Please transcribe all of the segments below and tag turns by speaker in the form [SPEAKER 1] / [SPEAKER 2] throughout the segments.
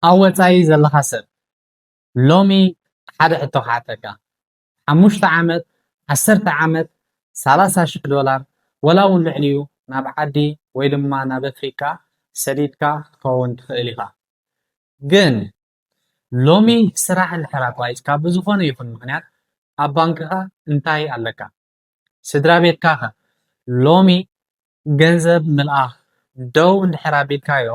[SPEAKER 1] ኣብ ወጻኢ ዘለኻ ሰብ ሎሚ ሓደ ሕቶ ክሓተካ ሓሙሽተ ዓመት ዓሰርተ ዓመት ሰላሳ ሽሕ ዶላር ወላ ውን ልዕሊኡ ናብ ዓዲ ወይ ድማ ናብ ኣፍሪቃ ሰዲድካ ክትከውን ትኽእል ኢኻ ግን ሎሚ ስራሕ እንድሕር ኣቋሪጽካ ብዝኾነ ይኹን ምኽንያት ኣብ ባንክኻ እንታይ ኣለካ ስድራ ቤትካ ከ ሎሚ ገንዘብ ምልኣኽ ደው እንድሕር ኣቢልካዮ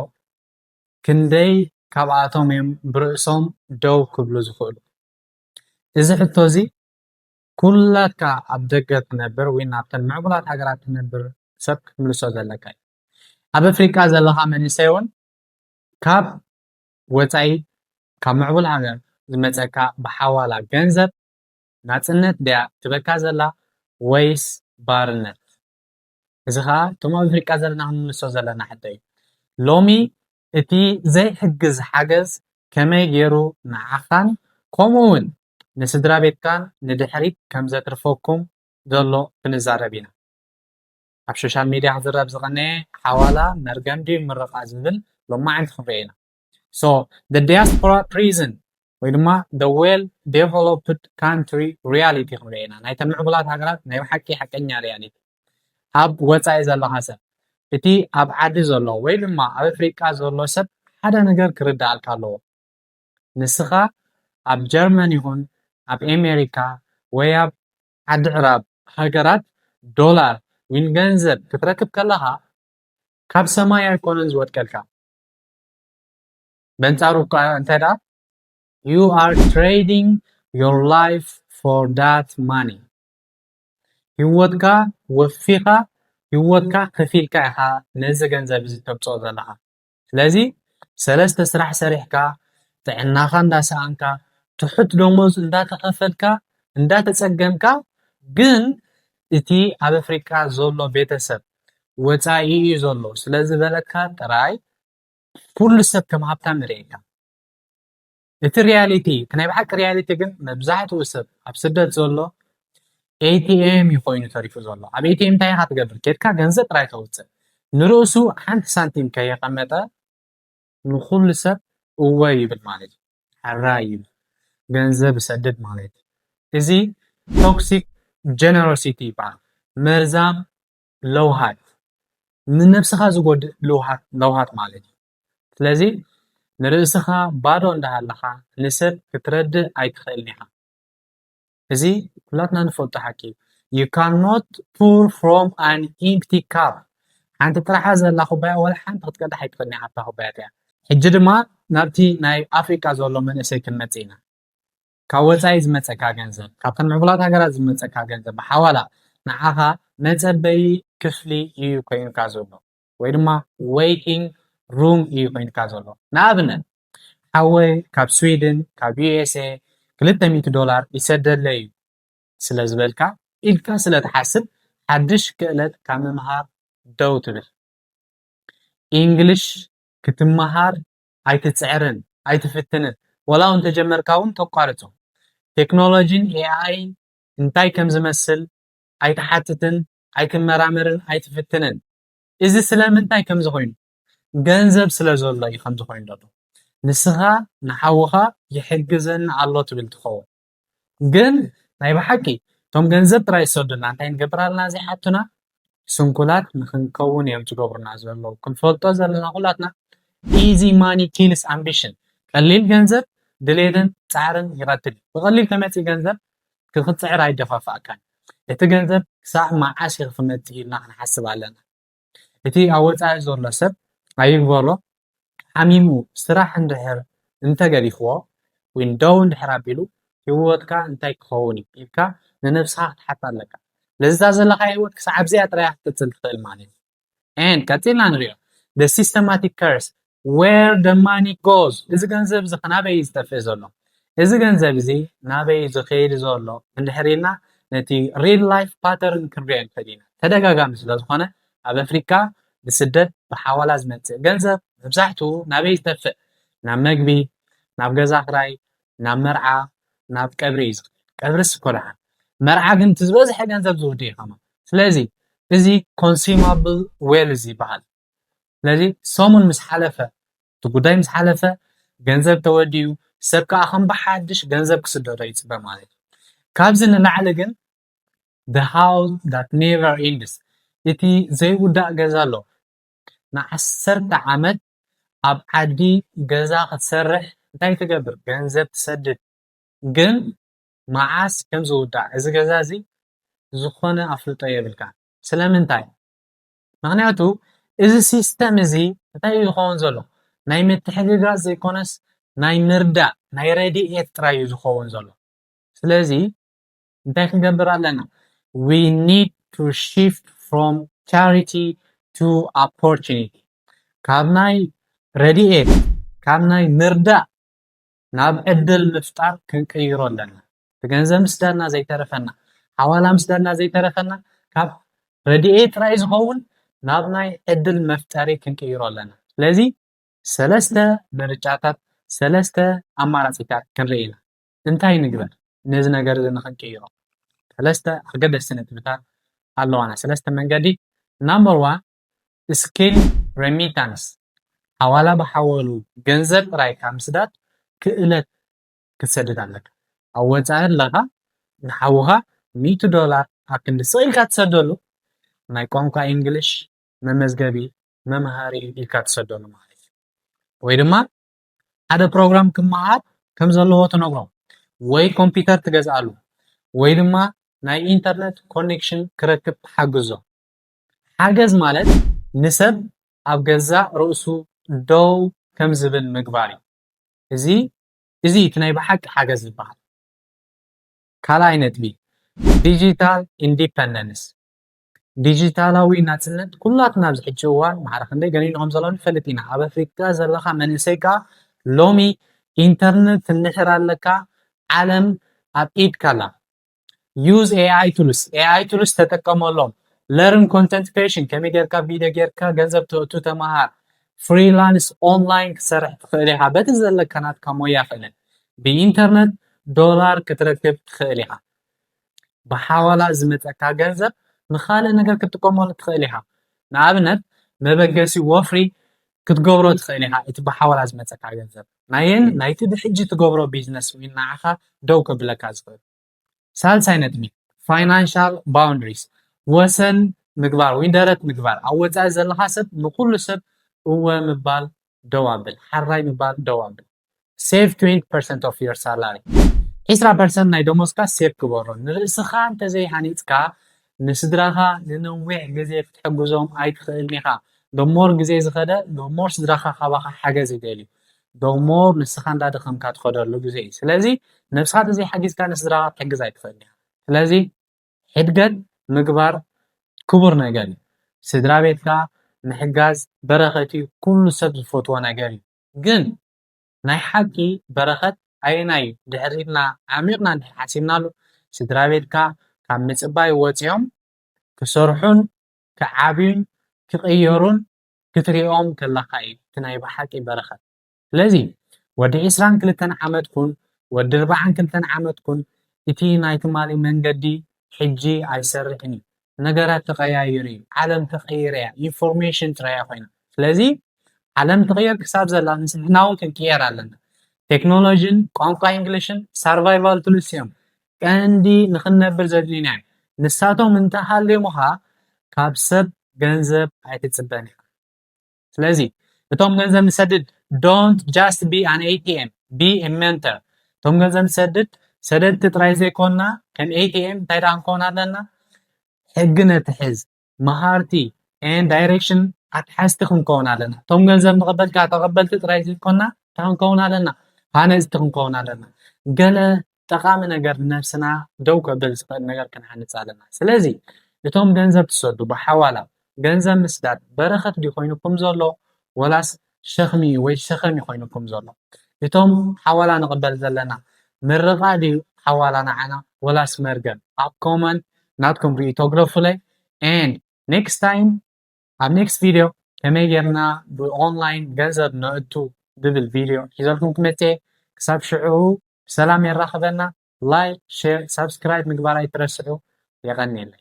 [SPEAKER 1] ክንደይ ካብኣቶም እዮም ብርእሶም ደው ክብሉ ዝኽእሉ? እዚ ሕቶ እዚ ኩላትካ ኣብ ደገ ትነብር ወይ ናብተን ምዕቡላት ሃገራት ትነብር ሰብ ክትምልሶ ዘለካ እዩ። ኣብ ኣፍሪቃ ዘለኻ መንእሰይ እውን ካብ ወጻኢ ካብ ምዕቡል ሃገር ዝመጸካ ብሓዋላ ገንዘብ ናጽነት ድያ ትህበካ ዘላ ወይስ ባርነት? እዚ ከዓ እቶም ኣብ ኣፍሪቃ ዘለና ክንምልሶ ዘለና ሕቶ እዩ ሎሚ እቲ ዘይሕግዝ ሓገዝ ከመይ ገይሩ ንዓኻን ከምኡ እውን ንስድራ ቤትካን ንድሕሪት ከም ዘትርፈኩም ዘሎ ክንዛረብ ኢና ኣብ ሶሻል ሚድያ ክዝረብ ዝቐነየ ሓዋላ መርገም ድዩ ምርቓ ዝብል ሎማዓንቲ ክንሪኦ ኢና ሶ ደ ዲያስፖራ ፕሪዝን ወይ ድማ ደ ዌል ዴቨሎፕድ ካንትሪ ሪያሊቲ ክንሪኦ ኢና ናይተን ምዕቡላት ሃገራት ናይ ብሓቂ ሓቀኛ ሪያሊቲ ኣብ ወፃኢ ዘለኻ ሰብ እቲ ኣብ ዓዲ ዘሎ ወይ ድማ ኣብ ኣፍሪቃ ዘሎ ሰብ ሓደ ነገር ክርዳኣልካ ኣለዎ ንስኻ ኣብ ጀርመን ይኹን ኣብ ኣሜሪካ ወይ ኣብ ዓዲ ዕራብ ሃገራት ዶላር ዊን ገንዘብ ክትረክብ ከለኻ ካብ ሰማይ ኣይኮነን ዝወድቀልካ በንጻሩ እኳ እንተ you are trading your life for that money ህይወትካ ወፊኻ ህይወትካ ከፊልካ ኢኻ ነዚ ገንዘብ እዚ ተብፅኦ ዘለኻ ስለዚ ሰለስተ ስራሕ ሰሪሕካ ጥዕናኻ እንዳሰኣንካ ትሑት ደሞዝ እንዳተኸፈልካ እንዳተፀገምካ ግን እቲ ኣብ ኣፍሪቃ ዘሎ ቤተሰብ ወጻኢ እዩ ዘሎ ስለ ዝበለካ ጥራይ ኩሉ ሰብ ከም ሃብታም ይርእየካ እቲ ሪያሊቲ እቲ ናይ ብሓቂ ሪያሊቲ ግን መብዛሕትኡ ሰብ ኣብ ስደት ዘሎ ኤቲኤም እዩ ኮይኑ ተሪፉ ዘሎ ኣብ ኤቲኤም እንታይ ኢኻ ትገብር ኬድካ ገንዘብ ጥራይ ተውፅእ ንርእሱ ሓንቲ ሳንቲም ከየቐመጠ ንኹሉ ሰብ እወ ይብል ማለት ሐራይ እዩ ገንዘብ እሰድድ ማለት እዚ ቶክሲክ ጀነሮሲቲ ይበሃል መርዛም ለውሃት ንነብስኻ ዝጎድእ ልውሃት ለውሃት ማለት እዩ ስለዚ ንርእስኻ ባዶ እንዳሃለኻ ንሰብ ክትረድእ ኣይትኽእልን ኢኻ። እዚ ኩላትና ንፈልጦ ሓቂ እዩ ዩ ካኖት ፑር ፍሮም ኣን ኢምፕቲ ካፕ ሓንቲ ጥራሓ ዘላ ኩባያ ወላ ሓንቲ ክትቀዳሕ ኣይትኽእልን እያ ኣብታ ኩባያ እቲኣ ሕጂ ድማ ናብቲ ናይ ኣፍሪቃ ዘሎ መንእሰይ ክንመጽእ ኢና ካብ ወጻኢ ዝመጸካ ገንዘብ ካብተን ምዕቡላት ሃገራት ዝመጸካ ገንዘብ ብሓዋላ ንዓኻ መጸበዪ ክፍሊ እዩ ኮይኑካ ዘሎ ወይ ድማ ዌይቲንግ ሩም እዩ ኮይንካ ዘሎ ንኣብነት ሓወይ ካብ ስዊድን ካብ ዩኤስኤ ክልተ ሚእቲ ዶላር ይሰደለይ እዩ ስለ ዝበልካ ኢልካ ስለ ትሓስብ ሓድሽ ክእለት ካብ ምምሃር ደው ትብል ኢንግሊሽ ክትመሃር ኣይትጽዕርን ኣይትፍትንን ወላ እውን ተጀመርካ እውን ተቋርጾ ቴክኖሎጂን ኤኣይን እንታይ ከም ዝመስል ኣይትሓትትን ኣይትመራመርን ኣይትፍትንን እዚ ስለምንታይ ከምዚ ኮይኑ ገንዘብ ስለ ዘሎ እዩ ከምዚ ኮይኑ ዘሎ ንስኻ ንሓውኻ ይሕግዘኒ ኣሎ ትብል ትኸውን ግን ናይ ብሓቂ እቶም ገንዘብ ጥራይ ዝሰዱልና እንታይ ንገብራልና ዘይሓቱና ስንኩላት ንክንከውን እዮም ዝገብሩና ዘለዉ ክንፈልጦ ዘለና ኩላትና ኢዚ ማኒ ኪልስ ኣምቢሽን ቀሊል ገንዘብ ድሌትን ፃዕርን ይቐትል ብቐሊል ተመፂ ገንዘብ ክክትፅዕር ኣይደፋፍኣካን እቲ ገንዘብ ክሳዕ መዓስ እዩ ክመፅእ ኢልና ክንሓስብ ኣለና እቲ ኣብ ወፃኢ ዘሎ ሰብ ኣይግበሮ ሓሚሙ ስራሕ እንድሕር እንተገዲፍዎ ወይ ደው እንድሕር ኣቢሉ ሂወትካ እንታይ ክኸውን እዩ ኢልካ ንነብስኻ ክትሓታ ኣለካ ለዛ ዘለኻያ ሂወት ክሳዕ ኣብዚኣ ጥራይ ክትቅፅል ትኽእል ማለት እዩ and ቀጺልና ንሪኦ the systematic curse where the money goes እዚ ገንዘብ እዚ ናበይ እዩ ዝጠፍእ ዘሎ እዚ ገንዘብ እዚ ናበይ እዩ ዝኸይድ ዘሎ እንድሕር ኢልና ነቲ ሪል ላይፍ ፓተርን ክንሪኦ ንኽእል ኢና ተደጋጋሚ ስለ ዝኾነ ኣብ ኣፍሪካ ብስደት ብሓዋላ ዝመፅእ ገንዘብ መብዛሕትኡ ናበይ ዝተፍእ ናብ መግቢ ናብ ገዛ ክራይ ናብ መርዓ ናብ ቀብሪ እዩ ዝኸድ ቀብርስ እኮ ደሓን መርዓ ግን እቲ ዝበዝሐ ገንዘብ ዝውድ እዩ ከማ ስለዚ እዚ ኮንሱማብል ዌልዝ ይበሃል ስለዚ ሰሙን ምስ ሓለፈ እቲ ጉዳይ ምስ ሓለፈ ገንዘብ ተወዲኡ ሰብ ከዓ ከም ብሓድሽ ገንዘብ ክስደዶ ይፅበ ማለት እዩ ካብዚ ንላዕሊ ግን the house that never ends እቲ ዘይውዳእ ገዛ ኣሎ ንዓሰርተ ዓመት ኣብ ዓዲ ገዛ ክትሰርሕ እንታይ ትገብር ገንዘብ ትሰድድ ግን መዓስ ከም ዝውዳእ እዚ ገዛ እዚ ዝኾነ ኣፍልጦ የብልካን ስለምንታይ ምኽንያቱ እዚ ሲስተም እዚ እንታይ እዩ ዝኸውን ዘሎ ናይ ምትሕግጋዝ ዘይኮነስ ናይ ምርዳእ ናይ ረዲኤት ጥራይ እዩ ዝኸውን ዘሎ ስለዚ እንታይ ክንገብር ኣለና we need to shift from charity to opportunity ካብ ናይ ረድኤት ካብ ናይ ምርዳእ ናብ ዕድል ምፍጣር ክንቅይሮ ኣለና ብገንዘብ ምስዳና ዘይተረፈና ሓዋላ ምስዳና ዘይተረፈና ካብ ረድኤት ጥራይ ዝኸውን ናብ ናይ ዕድል መፍጠሪ ክንቅይሮ ኣለና ስለዚ ሰለስተ ምርጫታት ሰለስተ ኣማራፂታት ክንርኢ ኢና እንታይ ንግበር ነዚ ነገር እዚ ንኽንቅይሮ? ሰለስተ ኣገደስቲ ነጥብታት ኣለዋና፣ ሰለስተ መንገዲ ናምበር ዋን ስኪል ረሚታንስ ሓዋላ ብሓወሉ ገንዘብ ጥራይ ካብ ምስዳድ ክእለት ክትሰድድ ኣለካ። ኣብ ወጻኢ ኣለኻ ንሓውኻ ሚእቲ ዶላር ኣብ ክንዲ ስቕ ኢልካ ትሰደሉ ናይ ቋንቋ ኢንግሊሽ መመዝገቢ መምሃሪ ኢልካ ትሰደሉ ማለት እዩ። ወይ ድማ ሓደ ፕሮግራም ክመሃር ከም ዘለዎ ትነግሮ ወይ ኮምፒተር ትገዝኣሉ ወይ ድማ ናይ ኢንተርነት ኮኔክሽን ክረክብ ትሓግዞ። ሓገዝ ማለት ንሰብ ኣብ ገዛእ ርእሱ ደው ከም ዝብል ምግባር እዩ። እዚ እዚ እዩ እቲ ናይ ብሓቂ ሓገዝ ዝበሃል። ካልኣይ ነጥቢ፣ ዲጂታል ኢንዲፐንደንስ፣ ዲጂታላዊ ናፅነት ኩላትና ኣብዚ ሕጂ እዋን ማዕረ ክንደይ ገኒኑ ከም ዘሎ ንፈልጥ ኢና። ኣብ ኣፍሪካ ዘለኻ መንእሰይ ካኣ ሎሚ ኢንተርነት እንድሕር ኣለካ ዓለም ኣብ ኢድካ ኣላ። use AI tools፣ AI tools ተጠቀመሎም። learn content creation፣ ከመይ ጌርካ ቪድዮ ጌርካ ገንዘብ ተእቱ ተምሃር። ፍሪላንስ ኦንላይን ክትሰርሕ ትኽእል ኢኻ በቲ ዘለካ ናትካ ሞያ ክእለት። ብኢንተርነት ዶላር ክትረክብ ትኽእል ኢኻ። ብሓዋላ ዝመፀካ ገንዘብ ንካልእ ነገር ክትጥቀመሉ ትክእል ኢካ ንኣብነት መበገሲ ወፍሪ ክትገብሮ ትክእል ኢካ እቲ ብሓዋላ ዝመፀካ ገንዘብ ናይን ናይቲ ብሕጂ ትገብሮ ቢዝነስ ውን ንዓካ ደው ከብለካ ዝክእል ሳልሳይ ነጥቢ ፋይናንሻል ባውንደሪስ ወሰን ምግባር ወይ ደረት ምግባር ኣብ ወፃኢ ዘለካ ሰብ ንኩሉ ሰብ እወ ምባል ደው ኣብል ሓራይ ምባል ደው ኣብል። Save 20% of your salary ዒስራ ፐርሰንት ናይ ደሞዝካ ሴቭ ግበሮ። ንርእስኻ እንተዘይሃኒጽካ ንስድራኻ ንነዊሕ ግዜ ክትሕግዞም ኣይትኽእልን ኢኻ። The more ግዜ ዝኸደ the more ስድራኻ ካባኻ ሓገዝ ይደልዩ። The more ንስኻ እንዳደኸምካ ትኸደሉ ግዜ እዩ። ስለዚ ነብስኻ ተዘይሓጊዝካ ንስድራኻ ክትሕግዝ ኣይትኽእልን ኢኻ። ስለዚ ሕድገት ምግባር ክቡር ነገር እዩ። ስድራቤትካ ምሕጋዝ በረኸት እዩ፣ ኩሉ ሰብ ዝፈትዎ ነገር እዩ። ግን ናይ ሓቂ በረኸት ኣየናይ እዩ ድሕር ኢልና ዓሚቕና እንድሕር ሓሲብናሉ ስድራ ቤትካ ካብ ምጽባይ ወጺኦም ክሰርሑን ክዓብዩን ክቕየሩን ክትሪኦም ከለኻ እዩ እቲ ናይ ብሓቂ በረኸት ስለዚ ወዲ ዕስራን ክልተን ዓመት ኩን ወዲ ኣርብዓን ክልተን ዓመት ኩን እቲ ናይ ትማሊ መንገዲ ሕጂ ኣይሰርሕን እዩ ነገራት ተቀያይሩ እዩ ዓለም ተቀይረ እያ ኢንፎርሜሽን ጥራይ እያ ኮይና ስለዚ ዓለም ትቅየር ክሳብ ዘላ ንስሕና እውን ክንቅየር ኣለና ቴክኖሎጂን ቋንቋ እንግሊሽን ሳርቫይቫል ቱልስ እዮም ቀንዲ ንክንነብር ዘድልዩና እዮም ንሳቶም እንተሃልዮምኻ ካብ ሰብ ገንዘብ ኣይትፅበን ኢኻ ስለዚ እቶም ገንዘብ ንሰድድ ዶንት ጃስት ቢ ኣን ኤቲኤም ቢ ኤ ሜንተር እቶም ገንዘብ ንሰድድ ሰደድቲ ጥራይ ዘይኮንና ከም ኤቲኤም እንታይ ደኣ ንከውን ኣለና ሕጊ ነትሕዝ መሃርቲ ኤን ዳይሬክሽን ኣትሓዝቲ ክንከውን ኣለና እቶም ገንዘብ ንቕበል ከዓ ተቐበልቲ ጥራይ ዘይኮንና እንታይ ክንከውን ኣለና ሃነፅቲ ክንከውን ኣለና ገለ ጠቃሚ ነገር ንነብስና ደው ከብል ዝክእል ነገር ክንሃንፅ ኣለና ስለዚ እቶም ገንዘብ ትሰዱ ብሓዋላ ገንዘብ ምስዳድ በረከት ድዩ ኮይኑኩም ዘሎ ወላስ ሸክሚ ወይ ሸከም እዩ ኮይኑኩም ዘሎ እቶም ሓዋላ ንቕበል ዘለና ምርቓ ድዩ ሓዋላ ንዓና ወላስ መርገም ኣብ ኮመንት ናትኩም ርእይቶ ግለፉለይ and next time ኣብ ኔክስት ቪድዮ ከመይ ጌርና ብኦንላይን ገንዘብ ነእቱ ዝብል ቪድዮ ሒዘልኩም ክመጽ እየ ክሳብ ሽዑ ብሰላም የራኽበና ላይክ ሼር ሳብስክራይብ ምግባር ኣይትረስዑ የቐንየለይ